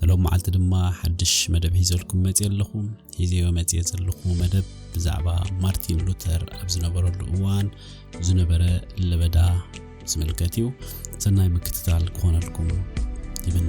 ንሎም መዓልቲ ድማ ሓድሽ መደብ ሒዘልኩም መጽየ ኣለኹ። ሒዘዮ መጽየ ዘለኹ መደብ ብዛዕባ ማርቲን ሉተር ኣብ ዝነበረሉ እዋን ዝነበረ ለበዳ ዝምልከት እዩ። ሰናይ ምክትታል ክኾነልኩም ይምነ።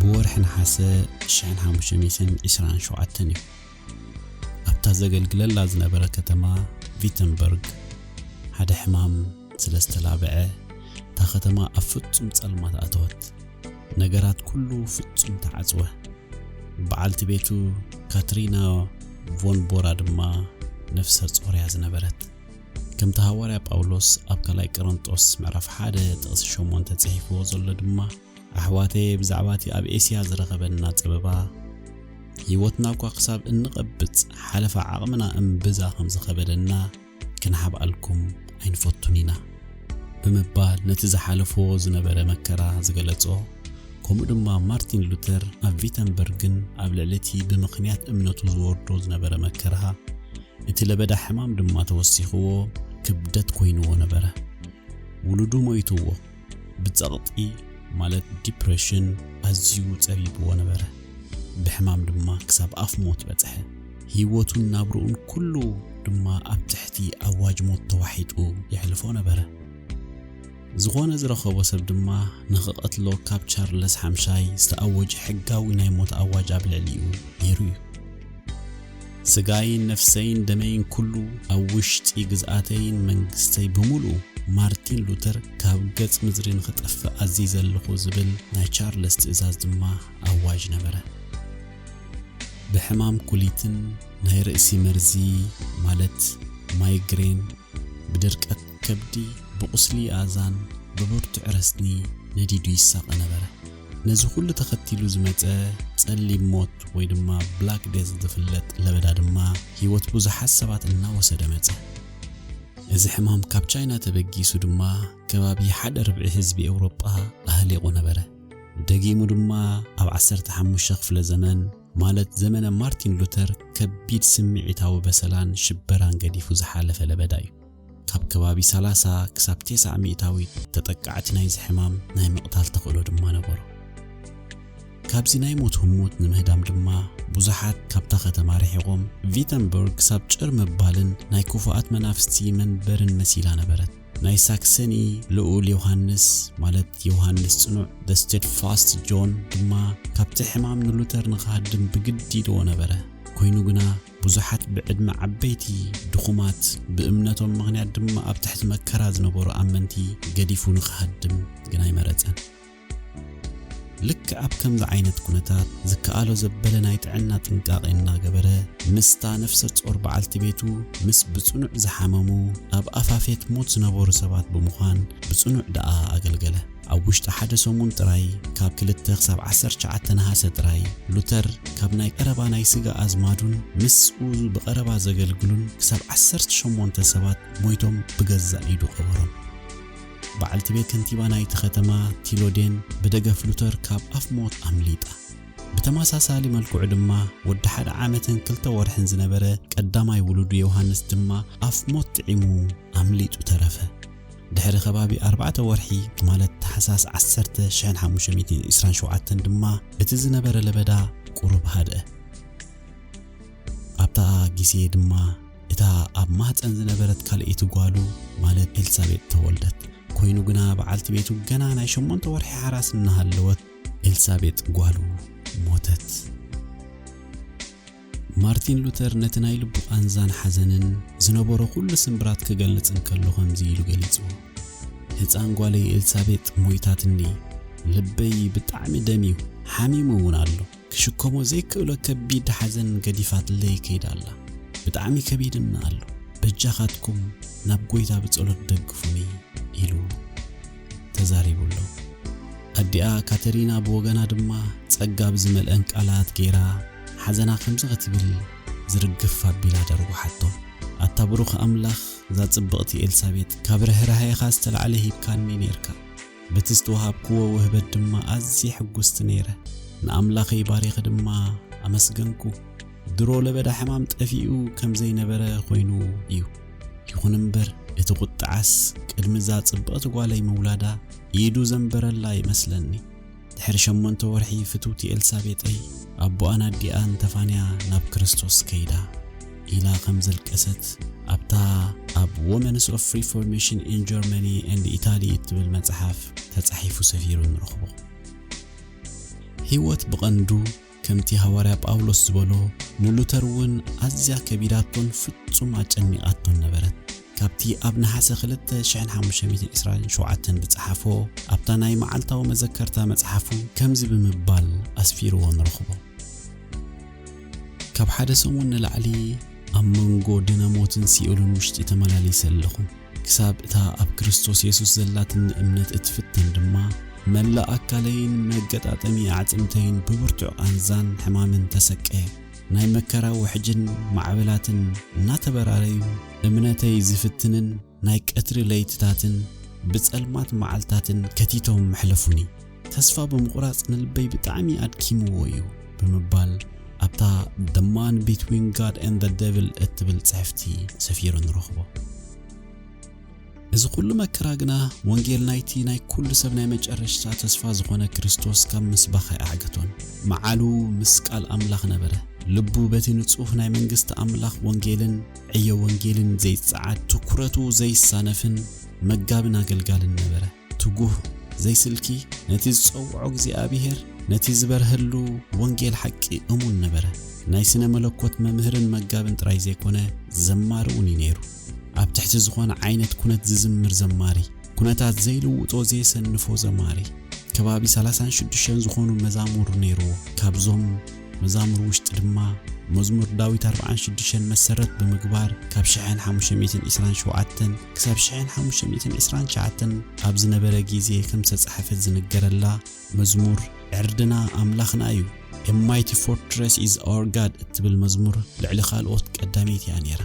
ብወርሒ ነሓሰ ሽሕን ሓሙሽተ ሚእትን ዒስራን ሸውዓተን እዩ ኣብታ ዘገልግለላ ዝነበረ ከተማ ቪተንበርግ ሓደ ሕማም ስለ ዝተላብዐ እታ ከተማ ኣብ ፍጹም ጸልማት ኣተወት ነገራት ኩሉ ፍጹም ተዓጽወ በዓልቲ ቤቱ ካትሪና ቮን ቦራ ድማ ነፍሰ ጾር እያ ዝነበረት ከምቲ ሃዋርያ ጳውሎስ ኣብ ካልኣይ ቀረንጦስ ምዕራፍ ሓደ ጥቕሲ ሸሞንተ ጽሒፍዎ ዘሎ ድማ ኣሕዋተየ ብዛዕባ እቲ ኣብ ኤስያ ዝረኸበና ጸበባ ህይወትና እኳ ክሳብ እንቐብጽ ሓለፋ ዓቕምና እምብዛ ከም ዝኸበደና ክንሓብኣልኩም ኣይንፈቱን ኢና ብምባል ነቲ ዝሓለፍዎ ዝነበረ መከራ ዝገለጾ ከምኡ ድማ ማርቲን ሉተር ኣብ ቪተንበርግን ኣብ ልዕሊ እቲ ብምኽንያት እምነቱ ዝወርዶ ዝነበረ መከራ እቲ ለበዳ ሕማም ድማ ተወሲኽዎ ክብደት ኮይንዎ ነበረ። ውሉዱ ሞይትዎ ብጸቕጢ ማለት ዲፕረሽን ኣዝዩ ጸቢብዎ ነበረ። ብሕማም ድማ ክሳብ ኣፍ ሞት በጽሐ። ህይወቱን ናብርኡን ኩሉ ድማ ኣብ ትሕቲ ኣዋጅ ሞት ተዋሒጡ የሕልፎ ነበረ። ዝኾነ ዝረኸቦ ሰብ ድማ ንኽቐትሎ ካብ ቻርለስ ሓምሻይ ዝተኣወጀ ሕጋዊ ናይ ሞት ኣዋጅ ኣብ ልዕሊኡ ነይሩ እዩ። ስጋይን ነፍሰይን ደመይን ኩሉ ኣብ ውሽጢ ግዝኣተይን መንግስተይ ብምሉኡ ማርቲን ሉተር ካብ ገጽ ምድሪ ንኽጠፍእ ኣዚዘ ኣለኹ ዝብል ናይ ቻርለስ ትእዛዝ ድማ ኣዋጅ ነበረ። ብሕማም ኩሊትን ናይ ርእሲ መርዚ ማለት ማይግሬን ብድርቀት ከብዲ ብቝስሊ ኣእዛን ብብርቱዕ ረስኒ ነዲዱ ይሳቐ ነበረ። ነዚ ዅሉ ተኸቲሉ ዝመጸ ጸሊም ሞት ወይ ድማ ብላክ ደዝ ዝፍለጥ ለበዳ ድማ ህይወት ብዙሓት ሰባት እናወሰደ መጸ። እዚ ሕማም ካብ ቻይና ተበጊሱ ድማ ከባቢ ሓደ ርብዒ ህዝቢ ኤውሮጳ ኣህሊቑ ነበረ። ደጊሙ ድማ ኣብ ዓሰርተ ሓሙሽተ ክፍለ ዘመን ማለት ዘመነ ማርቲን ሉተር ከቢድ ስምዒታዊ በሰላን ሽበራን ገዲፉ ዝሓለፈ ለበዳ እዩ። ካብ ከባቢ ሰላሳ ክሳብ ቴስዓ ሚእታዊት ተጠቃዕቲ ናይዚ ሕማም ናይ ምቕታል ተኽእሎ ድማ ነበሮ። ካብዚ ናይ ሞት ህሞት ንምህዳም ድማ ብዙሓት ካብታ ከተማ ርሒቖም ቪተንበርግ ክሳብ ጭር ምባልን ናይ ክፉኣት መናፍስቲ መንበርን መሲላ ነበረት። ናይ ሳክሰኒ ልኡል ዮሃንስ ማለት ዮሃንስ ጽኑዕ the steadfast John ድማ ካብቲ ሕማም ንሉተር ንኽሃድም ብግዲ ይድዎ ነበረ። ኮይኑ ግና ብዙሓት ብዕድመ ዓበይቲ፣ ድኹማት፣ ብእምነቶም ምኽንያት ድማ ኣብ ትሕቲ መከራ ዝነበሩ ኣመንቲ ገዲፉ ንኽሃድም ግን ኣይመረጸን። ልክዕ ኣብ ከምዚ ዓይነት ኩነታት ዝከኣሎ ዘበለ ናይ ጥዕና ጥንቃቄ እናገበረ ምስታ ነፍሰ ጾር በዓልቲ ቤቱ ምስ ብጽኑዕ ዝሓመሙ ኣብ ኣፋፌት ሞት ዝነበሩ ሰባት ብምዃን ብጽኑዕ ደኣ ኣገልገለ። ኣብ ውሽጢ ሓደ ሰሙን ጥራይ፣ ካብ ክልተ ክሳብ ዓሰርተ ትሽዓተ ነሃሰ ጥራይ፣ ሉተር ካብ ናይ ቀረባ ናይ ስጋ ኣዝማዱን ምስኡ ብቐረባ ዘገልግሉን ክሳብ ዓሰርተ ሸሞንተ ሰባት ሞይቶም ብገዛእ ኢዱ ቀበሮም። በዓልቲ ቤት ከንቲባ ናይቲ ከተማ ቲሎዴን ብደገፍ ሉተር ካብ ኣፍ ሞት ኣምሊጣ። ብተመሳሳሊ መልክዑ ድማ ወዲ ሓደ ዓመትን ክልተ ወርሕን ዝነበረ ቀዳማይ ውሉዱ ዮሃንስ ድማ ኣፍ ሞት ጥዒሙ ኣምሊጡ ተረፈ። ድሕሪ ከባቢ ኣርባዕተ ወርሒ ማለት ታሕሳስ ዓሰርተ ሽሕን ሓሙሽተ ሚእትን ዒስራን ሸውዓተን ድማ እቲ ዝነበረ ለበዳ ቁሩብ ሃድኣ። ኣብታ ግዜ ድማ እታ ኣብ ማህጸን ዝነበረት ካልኣይቲ ጓሉ ማለት ኤልሳቤጥ ተወልደት። ኮይኑ ግና በዓልቲ ቤቱ ገና ናይ ሸሞንተ ወርሒ ሓራስ እናሃለወት ኤልሳቤጥ ጓሉ ሞተት። ማርቲን ሉተር ነቲ ናይ ልቡ ቃንዛን ሓዘንን ዝነበሮ ዅሉ ስምብራት ክገልጽ እንከሎ ኸምዚ ኢሉ ገሊጽዎ፣ ህጻን ጓለይ ኤልሳቤጥ ሞይታትኒ፣ ልበይ ብጣዕሚ ደምዩ፣ ሓሚሙ እውን ኣሎ። ክሽከሞ ዘይክእሎ ከቢድ ሓዘን ገዲፋትለይ ከይዳ ኣላ። ብጣዕሚ ከቢድኒ ኣሎ። በጃኻትኩም ናብ ጐይታ ብጸሎት ደግፉኒ ኢሉ ተዛሪቡ ኣሎ። ኣዲኣ ካተሪና ብወገና ድማ ጸጋ ብዝመልአን ቃላት ገይራ፣ ሓዘና ከምዚ ክትብል ዝርግፍ ኣቢላ ደርጉሓቶ። ኣታ ብሩኽ ኣምላኽ እዛ ጽብቕቲ ኤልሳቤጥ ካብ ርህራሄኻ ዝተላዕለ ሂብካኒ ኔርካ። በቲ ዝተዋሃብክዎ ውህበት ድማ ኣዝየ ሕጉስቲ ነይረ። ንኣምላኸይ ባሪኸ ድማ ኣመስገንኩ። ድሮ ለበዳ ሕማም ጠፊኡ ከም ዘይነበረ ኮይኑ እዩ። ይኹን እምበር እቲ ቁጥዓስ ቅድሚ እዛ ጽብቕቲ ጓለይ ምውላዳ ኢዱ ዘንበረላ ይመስለኒ። ድሕሪ ሸሞንተ ወርሒ ፍትውቲ ኤልሳቤጠይ ኣቦኣን ኣዲኣን ተፋንያ ናብ ክርስቶስ ከይዳ ኢላ ከም ዘልቀሰት ኣብታ ኣብ ወመንስ ኦፍ ሪፎርሜሽን ኢን ጀርመኒ ኤንድ ኢታሊ እትብል መጽሓፍ ተጻሒፉ ሰፊሩ ንረኽቦ። ህይወት ብቐንዱ ከምቲ ሃዋርያ ጳውሎስ ዝበሎ፣ ንሉተር እውን ኣዝያ ከቢዳቶን ፍጹም ኣጨኒቓቶን ነበረት። ካብቲ ኣብ ነሓሰ ክልተ ሽሕን ሓሙሽተ ሚእትን ዕስራን ሸውዓተን ዝጸሓፎ፣ ኣብታ ናይ መዓልታዊ መዘከርታ መጽሓፉ ከምዚ ብምባል ኣስፊርዎ ንረኽቦ፣ ካብ ሓደ ሰሙን ንላዕሊ ኣብ መንጎ ድነ ሞትን ሲኦልን ውሽጢ ተመላሊሰ ኣለኹ። ክሳብ እታ ኣብ ክርስቶስ የሱስ ዘላትኒ እምነት እትፍተን ድማ፣ መላእ ኣካለይን መገጣጠሚ ኣዕጽምተይን ብብርቱዕ ቓንዛን ሕማምን ተሰቀየ። ናይ መከራ ውሕጅን ማዕበላትን እናተበራረዩ፣ እምነተይ ዚፍትንን ናይ ቀትሪ ለይትታትን ብጸልማት መዓልትታትን ከቲቶም መሕለፉኒ። ተስፋ ብምቑራጽ ንልበይ ብጣዕሚ ኣድኪምዎ እዩ ብምባል ኣብታ The Man Between God and the Devil እትብል ጽሕፍቲ ሰፊሩ ንረኽቦ። እዚ ኩሉ መከራ ግና ወንጌል ናይቲ ናይ ኩሉ ሰብ ናይ መጨረሽታ ተስፋ ዝኾነ ክርስቶስ ካብ ምስባኽ ኣይኣዕገቶን። መዓሉ ምስ ቃል ኣምላኽ ነበረ። ልቡ በቲ ንጹህ ናይ መንግስቲ ኣምላኽ ወንጌልን ዕዮ ወንጌልን ዘይጸዓድ፣ ትኩረቱ ዘይሳነፍን መጋብን ኣገልጋልን ነበረ። ትጉህ ዘይስልኪ ነቲ ዝጸውዖ እግዚኣብሔር ነቲ ዝበርሀሉ ወንጌል ሓቂ እሙን ነበረ። ናይ ስነ መለኮት መምህርን መጋብን ጥራይ ዘይኮነ ዘማሪ እውን እዩ ነይሩ። ኣብ ትሕቲ ዝኾነ ዓይነት ኩነት ዝዝምር ዘማሪ፣ ኩነታት ዘይልውጦ ዘየሰንፎ ዘማሪ። ከባቢ ሰላሳን ሽዱሽተን ዝኾኑ መዛሙር ነይርዎ። ካብዞም መዛሙር ውሽጢ ድማ መዝሙር ዳዊት ኣርብዓን ሽዱሽተን መሰረት ብምግባር ካብ ሽሕን ሓሙሽተ ሚእትን ዒስራን ሸውዓተን ክሳብ ሽሕን ሓሙሽተ ሚእትን ዕስራን ትሽዓተን ኣብ ዝነበረ ግዜ ከም ዝተጻሕፈት ዝንገረላ መዝሙር ዕርድና ኣምላኽና እዩ፣ A Mighty Fortress is Our God እትብል መዝሙር ልዕሊ ካልኦት ቀዳመይቲ እያ ነይራ።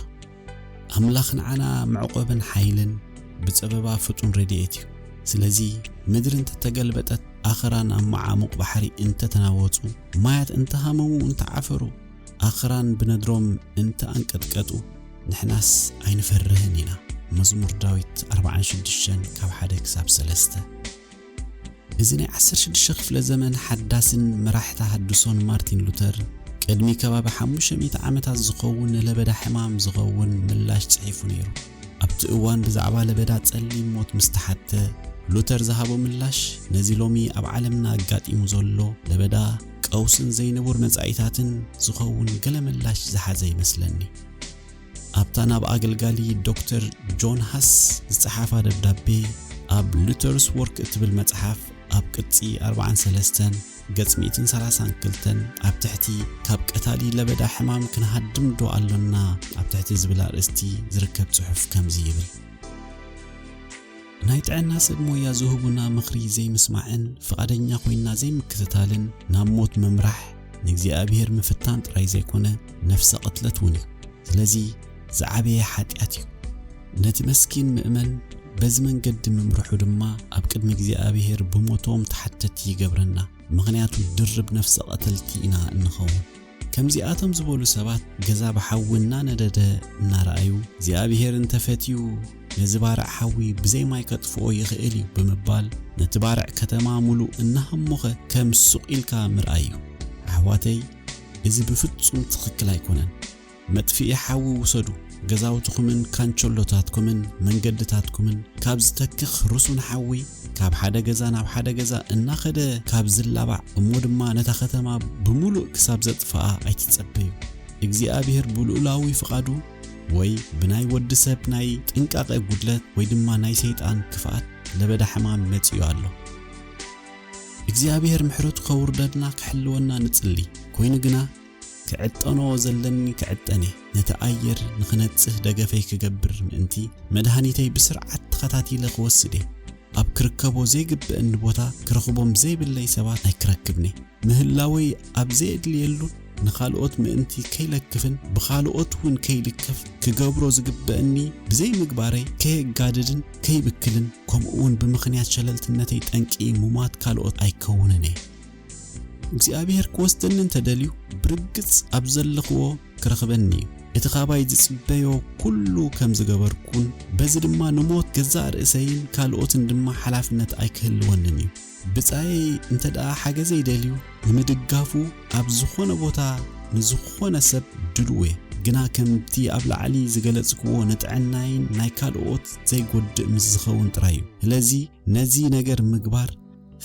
ኣምላኽ ንዓና መዕቆብን ሓይልን ብጸበባ ፍጡን ረድኤት እዩ። ስለዚ ምድሪ እንተተገልበጠት፣ ኣኽራን ኣብ መዓሙቕ ባሕሪ እንተተናወጹ፣ ማያት እንተሃመሙ እንተዓፈሩ፣ ኣኽራን ብነድሮም እንተ ኣንቀጥቀጡ ንሕናስ ኣይንፈርህን ኢና። መዝሙር ዳዊት ኣርብዓን ሽዱሽተን ካብ ሓደ ክሳብ ሰለስተ እዚ ናይ ዓሰርተ ሽዱሽተ ክፍለ ዘመን ሓዳስን መራሕ ተሃድሶን ማርቲን ሉተር ቅድሚ ከባቢ ሓሙሽተ ሚእቲ ዓመታት ዝኸውን ንለበዳ ሕማም ዝኸውን ምላሽ ጽሒፉ ነይሩ። ኣብቲ እዋን ብዛዕባ ለበዳ ጸሊም ሞት ምስ ተሓትተ ሉተር ዝሃቦ ምላሽ ነዚ ሎሚ ኣብ ዓለምና ኣጋጢሙ ዘሎ ለበዳ ቀውስን ዘይንቡር መጻኢታትን ዝኸውን ገለ ምላሽ ዝሓዘ ይመስለኒ። ኣብታ ናብ ኣገልጋሊ ዶክተር ጆን ሃስ ዝጸሓፋ ደብዳቤ ኣብ ሉተርስ ወርክ እትብል መጽሓፍ ኣብ ቅጺ 43 ገጽ 132 ኣብ ትሕቲ ካብ ቀታሊ ለበዳ ሕማም ክንሃድም ዶ ኣሎና ኣብ ትሕቲ ዝብል ኣርእስቲ ዝርከብ ጽሑፍ ከምዚ ይብል ናይ ጥዕና ሰብ ሞያ ዝህቡና ምኽሪ ዘይምስማዕን ፍቓደኛ ኮይንና ዘይምክትታልን ናብ ሞት ምምራሕ ንእግዚኣብሄር ምፍታን ጥራይ ዘይኮነ ነፍሰ ቕትለት እውን እዩ። ስለዚ ዝዓበየ ሓጢኣት እዩ። ነቲ መስኪን ምእመን በዚ መንገዲ ምምርሑ ድማ ኣብ ቅድሚ እግዚኣብሄር ብሞቶም ተሓተቲ ይገብረና፣ ምኽንያቱ ድርብ ነፍሰ ቐተልቲ ኢና እንኸውን። ከምዚኣቶም ዝበሉ ሰባት ገዛ ብሓዊ እናነደደ እናረኣዩ፣ እግዚኣብሄር እንተ ፈትዩ ነዚ ባርዕ ሓዊ ብዘይ ማይ ከጥፍኦ ይኽእል እዩ ብምባል ነቲ ባርዕ ከተማ ምሉእ እናሃሞኸ ከም ሱቕ ኢልካ ምርኣይ እዩ። ኣሕዋተይ እዚ ብፍጹም ትኽክል ኣይኮነን። መጥፍኢ ሓዊ ውሰዱ፣ ገዛውትኹምን ካንቸሎታትኩምን መንገድታትኩምን ካብ ዝተክኽ ርሱን ሓዊ ካብ ሓደ ገዛ ናብ ሓደ ገዛ እናኸደ ካብ ዝላባዕ እሞ ድማ ነታ ከተማ ብምሉእ ክሳብ ዘጥፍኣ ኣይትጸበዩ። እግዚኣብሔር ብልኡላዊ ፍቓዱ ወይ ብናይ ወዲ ሰብ ናይ ጥንቃቐ ጉድለት ወይ ድማ ናይ ሰይጣን ክፍኣት ለበዳ ሕማም መጺኡ ኣሎ። እግዚኣብሔር ምሕረቱ ከውርደልና ክሕልወና ንጽሊ። ኮይኑ ግና ክዕጠኖ ዘለኒ ክዕጠን'የ፣ ነቲ ኣየር ንኽነጽህ ደገፈይ ክገብር ምእንቲ፣ መድሃኒተይ ብስርዓት ተኸታቲለ ክወስድ'የ፣ ኣብ ክርከቦ ዘይግበእኒ ቦታ ክረኽቦም ዘይብለይ ሰባት ኣይክረክብን'የ፣ ምህላወይ ኣብ ዘየድልየሉን ንኻልኦት ምእንቲ ከይለክፍን ብኻልኦት'ውን ከይልከፍ ክገብሮ ዝግበእኒ ብዘይምግባረይ ከየጋድድን ከይብክልን ከምኡ'ውን ብምኽንያት ሸለልትነተይ ጠንቂ ሙማት ካልኦት ኣይከውንን'የ። እግዚኣብሔር ክወስደኒ እንተ ደልዩ ብርግጽ ኣብ ዘለኽዎ ክረኽበኒ እዩ። እቲ ኻባይ ዝጽበዮ ኩሉ ከም ዝገበርኩን በዚ ድማ ንሞት ገዛእ ርእሰይን ካልኦትን ድማ ሓላፍነት ኣይክህልወንን እዩ። ብጻየይ እንተ ደኣ ሓገዘይ ደልዩ ንምድጋፉ ኣብ ዝኾነ ቦታ ንዝኾነ ሰብ ድሉው እየ። ግና ከምቲ ኣብ ላዕሊ ዝገለጽክዎ ንጥዕናይን ናይ ካልኦት ዘይጎድእ ምስ ዝኸውን ጥራይ እዩ። ስለዚ ነዚ ነገር ምግባር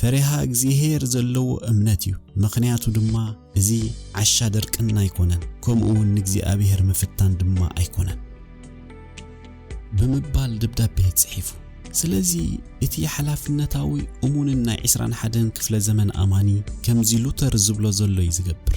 ፈሪሃ እግዚሄር ዘለዎ እምነት እዩ ምኽንያቱ ድማ እዚ ዓሻ ድርቅና ኣይኮነን ከምኡ ውን ንእግዚኣብሄር ምፍታን ድማ ኣይኮነን ብምባል ደብዳቤ ጽሒፉ ስለዚ እቲ ሓላፍነታዊ እሙንን ናይ ዕስራን ሓደን ክፍለ ዘመን ኣማኒ ከምዚ ሉተር ዝብሎ ዘሎ እዩ ዝገብር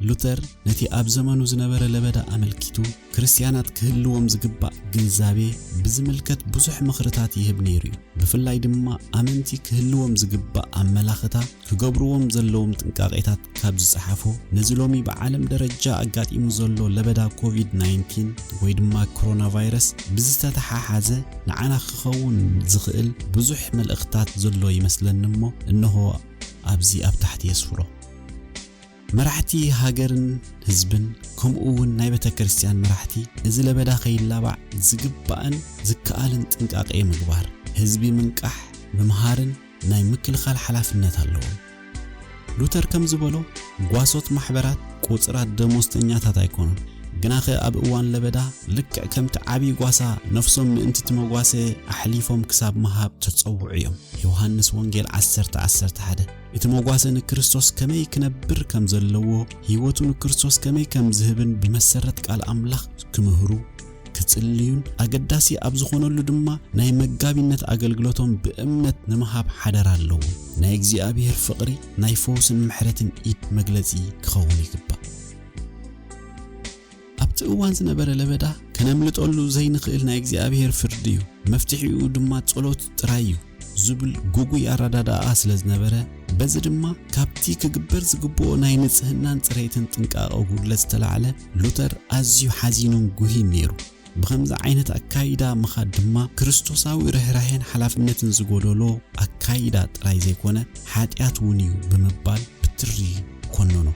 ሉተር ነቲ ኣብ ዘመኑ ዝነበረ ለበዳ ኣመልኪቱ ክርስትያናት ክህልዎም ዝግባእ ግንዛቤ ብዝምልከት ብዙሕ ምኽርታት ይህብ ነይሩ እዩ። ብፍላይ ድማ ኣመንቲ ክህልዎም ዝግባእ ኣመላኽታ ክገብርዎም ዘለዎም ጥንቃቄታት ካብ ዝጸሓፎ ነዚ ሎሚ ብዓለም ደረጃ ኣጋጢሙ ዘሎ ለበዳ ኮቪድ-19 ወይ ድማ ኮሮና ቫይረስ ብዝተተሓሓዘ ንዓና ክኸውን ዝኽእል ብዙሕ መልእኽታት ዘሎ ይመስለኒ እሞ እነሆ ኣብዚ ኣብ ታሕቲ የስፍሮ። መራሕቲ ሃገርን ህዝብን ከምኡ እውን ናይ ቤተክርስትያን መራሕቲ እዚ ለበዳ ከይላባዕ ዝግባእን ዝከኣልን ጥንቃቄ ምግባር፣ ህዝቢ ምንቃሕ፣ ምምሃርን ናይ ምክልኻል ሓላፍነት ኣለዎም። ሉተር ከም ዝበሎ ጓሶት ማሕበራት ቁጽራት ደሞዝተኛታት ኣይኮኑን፣ ግናኸ ኣብ እዋን ለበዳ ልክዕ ከምቲ ዓብዪ ጓሳ ነፍሶም ምእንቲ እቲ መጓሰ ኣሕሊፎም ክሳብ ምሃብ ተጸውዑ እዮም። ዮሃንስ ወንጌል ዓሰርተ ዓሰርተ ሓደ እቲ መጓሰ ንክርስቶስ ከመይ ክነብር ከም ዘለዎ፣ ህይወቱ ንክርስቶስ ከመይ ከም ዝህብን ብመሰረት ቃል ኣምላኽ ክምህሩ፣ ክጽልዩን ኣገዳሲ ኣብ ዝኾነሉ ድማ ናይ መጋቢነት ኣገልግሎቶም ብእምነት ንምሃብ ሓደራ ኣለዎም። ናይ እግዚኣብሔር ፍቕሪ ናይ ፈውስን ምሕረትን ኢድ መግለጺ ክኸውን ይግባእ። ኣብቲ እዋን ዝነበረ ለበዳ ከነምልጠሉ ዘይንኽእል ናይ እግዚኣብሔር ፍርዲ እዩ፣ መፍትሒኡ ድማ ጸሎት ጥራይ እዩ ዝብል ግጉይ ኣረዳድኣ ስለ ዝነበረ፣ በዚ ድማ ካብቲ ክግበር ዝግብኦ ናይ ንጽህናን ጽሬትን ጥንቃቐ ጉድለት ዝተላዕለ ሉተር ኣዝዩ ሓዚኑን ጉሂን ነይሩ። ብኸምዚ ዓይነት ኣካይዳ ምኻድ ድማ ክርስቶሳዊ ርህራሄን ሓላፍነትን ዝጎደሎ ኣካይዳ ጥራይ ዘይኮነ ሓጢኣት እውን እዩ ብምባል ብትሪ ኮነኖ።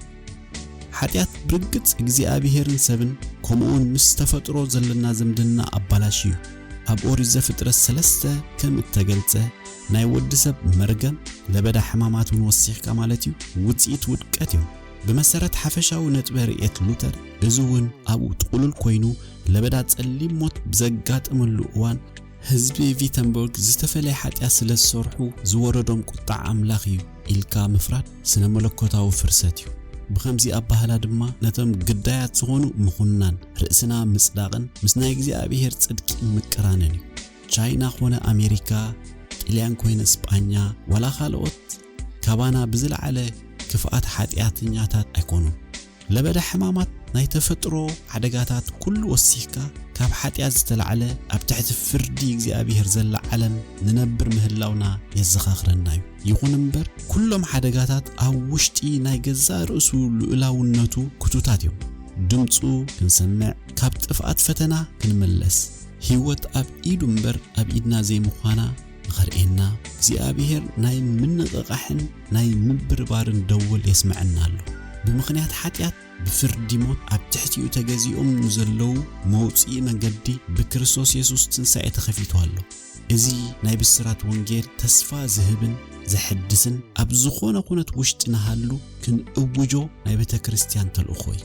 ሓጢኣት ብርግጽ እግዚኣብሄርን ሰብን ከምኡውን ምስ ተፈጥሮ ዘለና ዝምድና ኣባላሽዩ። ኣብ ኦሪት ዘፍጥረት ሰለስተ ከም እተገልጸ ናይ ወዲ ሰብ መርገም፣ ለበዳ ሕማማት እውን ወሲኽካ ማለት እዩ፣ ውጽኢት ውድቀት እዮም። ብመሰረት ሓፈሻዊ ነጥበ ርእየት ሉተር እዚ እውን ኣብኡ ጥቕሉል ኮይኑ ለበዳ ጸሊም ሞት ብዘጋጠመሉ እዋን፣ ህዝቢ ቪተንቡርግ ዝተፈለየ ሓጢኣት ስለ ዝሰርሑ ዝወረዶም ቁጥዓ ኣምላኽ እዩ፣ ኢልካ ምፍራድ ስነ መለኮታዊ ፍርሰት እዩ። ብኸምዚ ኣባህላ ድማ ነቶም ግዳያት ዝኾኑ ምኹናን፣ ርእስና ምጽዳቕን ምስ ናይ እግዚኣብሔር ጽድቂ ምቅራንን እዩ። ቻይና ኮነ ኣሜሪካ፣ ጥልያን ኮይነ ስጳኛ፣ ዋላ ካልኦት ካባና ብዝለዓለ ክፍኣት ሓጢኣተኛታት ኣይኮኑን። ለበዳ ሕማማት ናይ ተፈጥሮ ሓደጋታት ኩሉ ወሲኽካ ካብ ሓጢኣት ዝተላዕለ ኣብ ትሕቲ ፍርዲ እግዚኣብሄር ዘላ ዓለም ንነብር ምህላውና የዘኻኽረና እዩ። ይኹን እምበር ኩሎም ሓደጋታት ኣብ ውሽጢ ናይ ገዛእ ርእሱ ልኡላውነቱ ክቱታት እዮም። ድምጹ ክንሰምዕ፣ ካብ ጥፍኣት ፈተና ክንምለስ፣ ህይወት ኣብ ኢዱ እምበር ኣብ ኢድና ዘይምዃና፣ ንኸርእየና እግዚኣብሔር ናይ ምንቕቓሕን ናይ ምብርባርን ደወል የስመዐና ኣሎ። ብምኽንያት ሓጢኣት ብፍርዲ ሞት ኣብ ትሕቲኡ ተገዚኦም ንዘለዉ መውፅኢ መንገዲ ብክርስቶስ የሱስ ትንሣኤ ተኸፊቱ ኣሎ። እዚ ናይ ብስራት ወንጌል ተስፋ ዝህብን ዘሐድስን ኣብ ዝኾነ ኩነት ውሽጢ ንሃሉ ክንእውጆ ናይ ቤተክርስትያን ተልእኾ እዩ።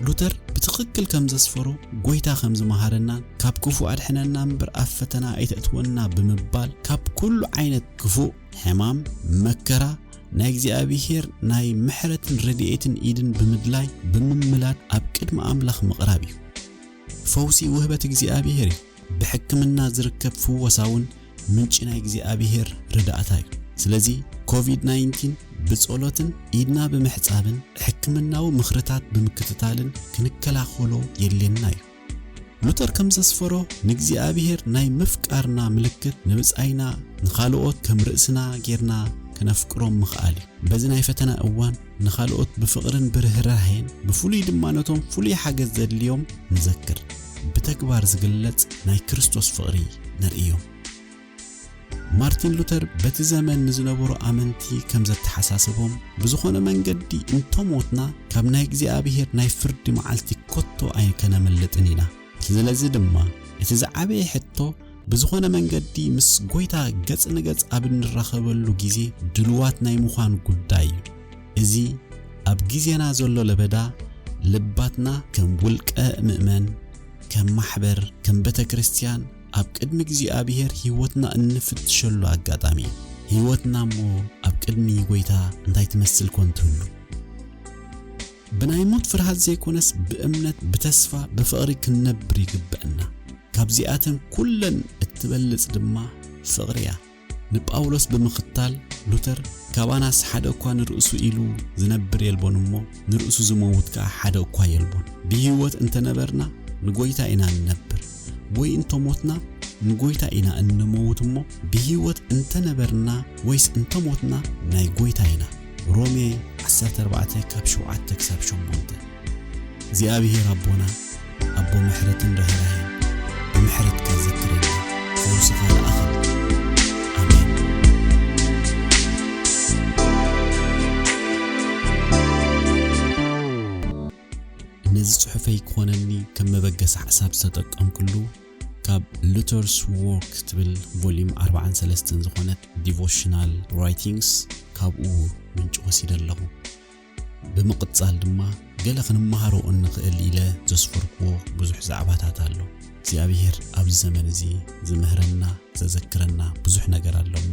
ሉተር ብትኽክል ከም ዘስፈሮ ጎይታ ከም ዝመሃረናን ካብ ክፉእ ኣድሕነና እምበር ኣብ ፈተና ኣይተእትወና ብምባል ካብ ኩሉ ዓይነት ክፉእ፣ ሕማም፣ መከራ፣ ናይ እግዚኣብሔር ናይ ምሕረትን ረድኤትን ኢድን ብምድላይ ብምምላድ ኣብ ቅድሚ ኣምላኽ ምቕራብ እዩ። ፈውሲ ውህበት እግዚኣብሔር እዩ። ብሕክምና ዝርከብ ፍወሳ ውን ምንጪ ናይ እግዚኣብሄር ርዳእታ ዩ። ስለዚ ኮቪድ ናይንቲን ብጸሎትን ኢድና ብምሕጻብን ሕክምናዊ ምኽርታት ብምክትታልን ክንከላኸሎ የድልየና ዩ። ሉተር ከም ዘስፈሮ ንእግዚኣብሄር ናይ ምፍቃርና ምልክት ንብጻይና ንኻልኦት ከም ርእስና ጌርና ከነፍቅሮም ምኽኣል ዩ። በዚ ናይ ፈተና እዋን ንኻልኦት ብፍቕርን ብርህራሄን ብፍሉይ ድማ ነቶም ፍሉይ ሓገዝ ዘድልዮም ንዘክር። ብተግባር ዝግለጽ ናይ ክርስቶስ ፍቕሪ ነርእዮም። ማርቲን ሉተር በቲ ዘመን ንዝነበሩ ኣመንቲ ከም ዘተሓሳሰቦም ብዝኾነ መንገዲ እንተሞትና ካብ ናይ እግዚኣብሔር ናይ ፍርዲ መዓልቲ ኮቶ ኣይከነምልጥን ኢና። ስለዚ ድማ እቲ ዝዓበየ ሕቶ ብዝኾነ መንገዲ ምስ ጎይታ ገጽ ንገጽ ኣብ እንራኸበሉ ጊዜ ድሉዋት ናይ ምዃን ጉዳይ እዩ። እዚ ኣብ ጊዜና ዘሎ ለበዳ ልባትና ከም ውልቀ ምእመን፣ ከም ማሕበር፣ ከም ቤተ ክርስቲያን ኣብ ቅድሚ እግዚኣብሔር ሕይወትና እንፍትሸሉ ኣጋጣሚ እዩ። ሕይወትና እሞ ኣብ ቅድሚ ጎይታ እንታይ ትመስል ኮን ትህሉ? ብናይ ሞት ፍርሃት ዘይኮነስ ብእምነት ብተስፋ ብፍቕሪ ክንነብር ይግበእና ካብዚኣተን ኩለን እትበልጽ ድማ ፍቕሪ እያ ንጳውሎስ ብምኽታል ሉተር ካባናስ ሓደ እኳ ንርእሱ ኢሉ ዝነብር የልቦን እሞ ንርእሱ ዝመውት ከኣ ሓደ እኳ የልቦን ብህይወት እንተነበርና ንጐይታ ኢና ንነብር ወይ እንተ ሞትና ንጐይታ ኢና እንመውት እሞ ብህይወት እንተ ነበርና ወይስ እንተ ሞትና ናይ ጐይታ ኢና። ሮሜ ዓሰርተ ኣርባዕተ ካብ ሸውዓተ ክሳብ ሸሞንተ እግዚኣብሄር ኣቦና ኣቦ ምሕረትን ርህራሄን ብምሕረትካ ዘክረና ፈውስኻ ለኣኸልና ኣሜን። ነዚ ጽሑፈይ ክኾነኒ ከም መበገሲ ሓሳብ ዝተጠቀምኩሉ ካብ ሉተርስ ዎርክ ትብል ቮሊዩም ኣርባዓን ሰለስተን ዝኾነት ዲቮሽናል ራይቲንግስ ካብኡ ምንጭ ወሲደ ኣለኹ። ብምቕጻል ድማ ገለ ክንመሃሮ እንኽእል ኢለ ዘስፈርክዎ ብዙሕ ዛዕባታት ኣሎ። እግዚኣብሄር ኣብዚ ዘመን እዚ ዝምህረና ዘዘክረና ብዙሕ ነገር ኣሎ እሞ